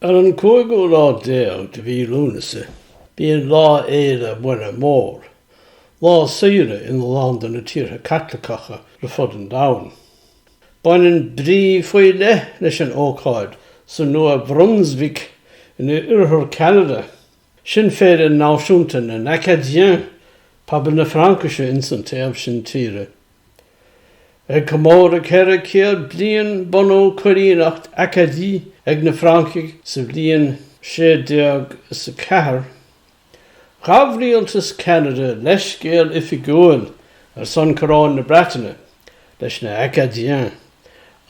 Ar an cúigiú lá déag de mhí Lúnasa bíonn Lá Fhéile Muire Mór, lá saoire in a lán de na tíortha Caitliceacha ar fud an domhain. Baineann brí faoi leith leis an ócáid sa Nua-Bhrunsuic in oirthear Cheanada, sin féile náisiúnta na nAcadiens, pobal na Fraincise ins an taobh sin tíre. Ag comóradh 400 bliain bunú Coilíneacht Acadie ag na Francaigh sa bhliain 1604, ghabh rialtas Cheanada leithscéal oifigiúil ar son Choróin na Breataine leis na Acadiens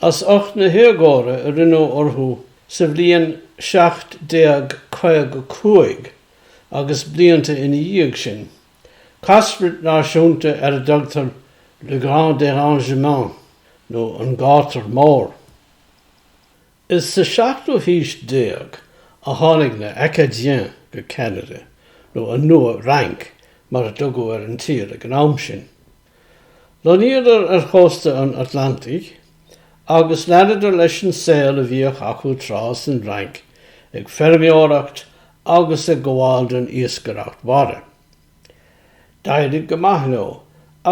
as ucht na héagóra a rinneadh orthu sa bhliain 1755 agus blianta ina dhiaidh sin. Cascairt náisiúnta ar a dtugtar Le Grand Dérangement nó An Gátar Mór. Is sa 17ú haois déag a tháinig na Acadiens go Ceanada, nó an Nua-Fhrainc mar a tugadh ar an tír ag an am sin. Lonnaíodar ar chósta an Atlantic agus leanadar leis an saol a bhíodh acu tráth san bhFrainc ag feirmeoireacht agus ag gabháil den iascaireacht mhara. D'éirigh go maith leo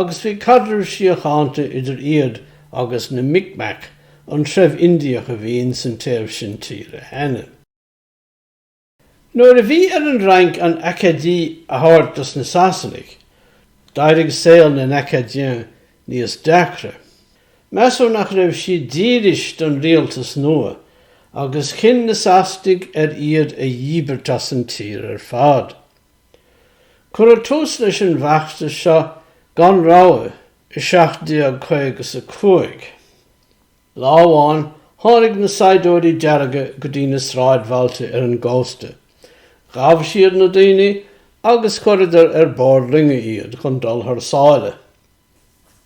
agus bhí caidreamh síochánta idir iad agus na Mi'kmaq, an treibh Indiach a bhí insan taobh sin tíre cheana. Nuair a bhí ar an Fhrainc an Acadie a thabhairt dos na Sasanaigh, d'éirigh saol na nAcadiens níos deacra. Measadh nach raibh siad dílis don rialtas nua, agus chinn na Sasanaigh ar iad a dhíbirt as an tír ar fad. Cuireadh tús leis an bhfeachtas seo gan rabhadh i 1755. Lá amháin, tháinig na saighdiúirí dearga go dtí na sráidbhailte ar an gcósta. Ghabh siad na daoine agus chuireadar ar bord loinge iad chun dul thar sáile.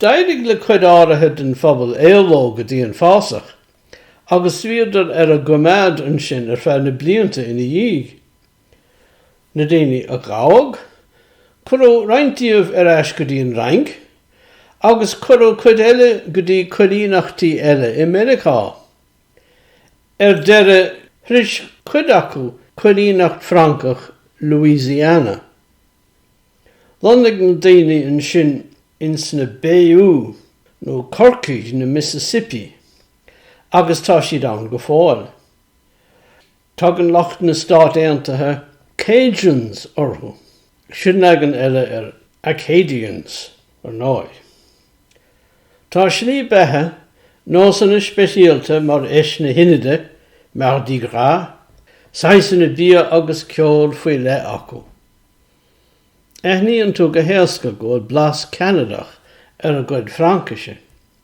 D'éirigh le cuid áirithe den phobal éaló go dtí an fásach, agus bhíodar ar a gcoimeád ansin ar feadh na blianta ina dhiaidh. Na daoine a gabhadh, cuireadh roinnt díobh ar ais go dtí an Fhrainc, agus cuireadh cuid eile go dtí coilíneachtaí eile i Meiriceá. Ar deireadh, shroich cuid acu coilíneacht Francach Louisiana. Lonnaigh na daoine ansin ins na Bayous, nó Corcaigh na Mississippi, agus tá siad ann go fóill. Tugann lucht na Stát Aontaithe Cajuns orthu. Sin leagan eile ar Acadians, ar ndóigh. Tá slí beatha, nósanna speisialta mar fheis na hInide, Mardi Gras, saghasanna bia agus ceol faoi leith acu. Aithníonn tú go héasca go bhfuil blas Ceanadach ar a gcuid Fraincise.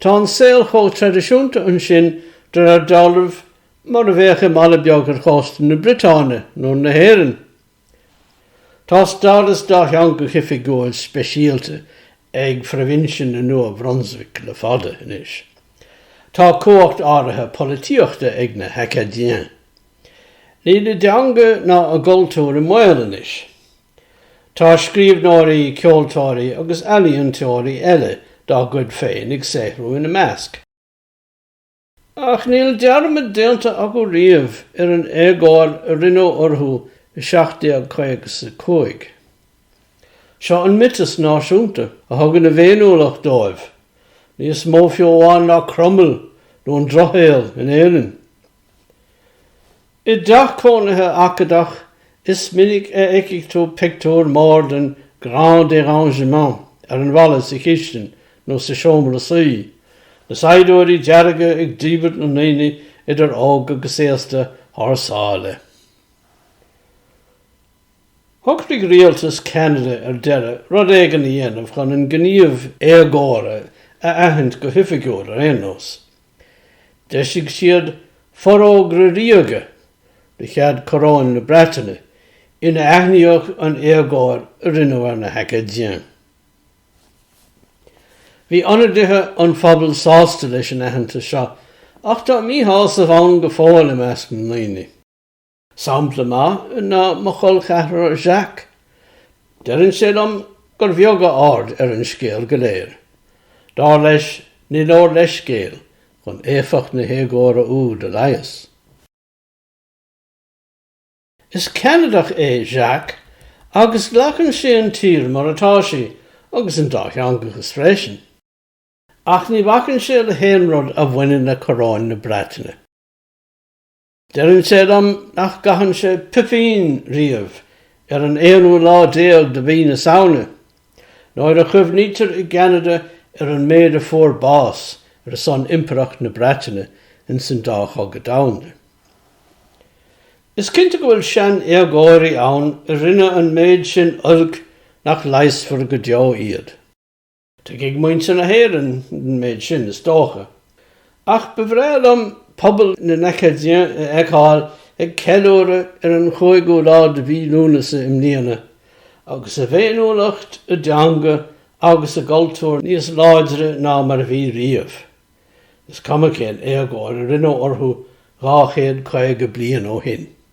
Tá an saol chomh traidisiúnta ansin de réir dealraimh, mar a bheadh i mbaile beag ar chósta na Briotáine nó na hÉireann. Tá stádas dátheangach oifigiúil speisialta ag proibhinse na Nua-Brunswick le fada anois. Tá cumhacht áirithe polaitíochta ag na hAcadiens. Níl a dteanga ná a gcultúr i mbaol anois. Tá scríbhneoirí, ceoltóirí agus ealaíontóirí eile dá gcuid féin ag saothrú ina measc, ach níl dearmad déanta acu riamh ar an éagóir a rinneadh orthu i 1755. Seo an miotas náisiúnta a thugann a bhféiniúlacht dóibh, níos mó fiú amháin ná Cromail nó an Drochshaol in Éirinn. I dteach cónaithe Acadach, is minic a fheicfidh tú pictiúr mór den grand dérangement ar an bhalla sa chistin nó sa seomra suí, na saighdiúirí dearga ag díbirt na ndaoine idir óg agus aosta thar sáile. Shocraigh rialtas Cheanada ar deireadh rud éigin a dhéanamh chun an gníomh éagóra a aithint go hoifigiúil ar aon nós. D'eisigh siad Forógra Ríoga de chead Coróin na Breataine ina aithníodh an éagóir a rinneadh ar na hAcadiens. Bhí ionadaithe an phobail sásta leis an aitheantas seo, ach tá míshásamh ann go fóill i measc na ndaoine. Sampla maith ná mo chol cheathrar Jacques. Deireann sé liom gur bheag a aird ar an scéal go léir. Dar leis, ní leor leithscéal chun éifeacht na héagóra úd a leigheas. Is Ceanadach é Jacques agus glacann sé an tír mar atá sí agus an dátheangachas freisin. Ach ní bhacann sé le haon rud a bhaineann le coróin na Breataine. Deireann sé liom nach gcaitheann sé poipín riamh ar an aonú lá déag de mhí na Samhna, nuair a chuimhnítear i gCeanada ar an méid a fuair bás ar a son Impireacht na Breataine insan dá Chogadh Domhanda. Is cinnte go bhfuil sean-éagóirí ann a rinne an méid sin oilc nach leigheasfar go deo iad. Tuigfidh muintir na hÉireann an méid sin, is dócha. Ach ba bhreá liom pobal na nAcadien a fheiceáil ag ceiliúradh ar an chúigiú lá de mhí Lúnasa i mbliana, agus a bhféiniúlacht, a dteanga agus a gcultúr níos láidre ná mar a bhí riamh, is cuma cén éagóir a rinneadh orthu dhá chéad caoga bliain ó shin.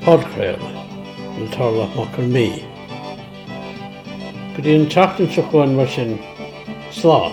Podchraoladh le Torlach Mac Con Midhe. Go dtí an tseachtain seo chugainn mar sin, slán!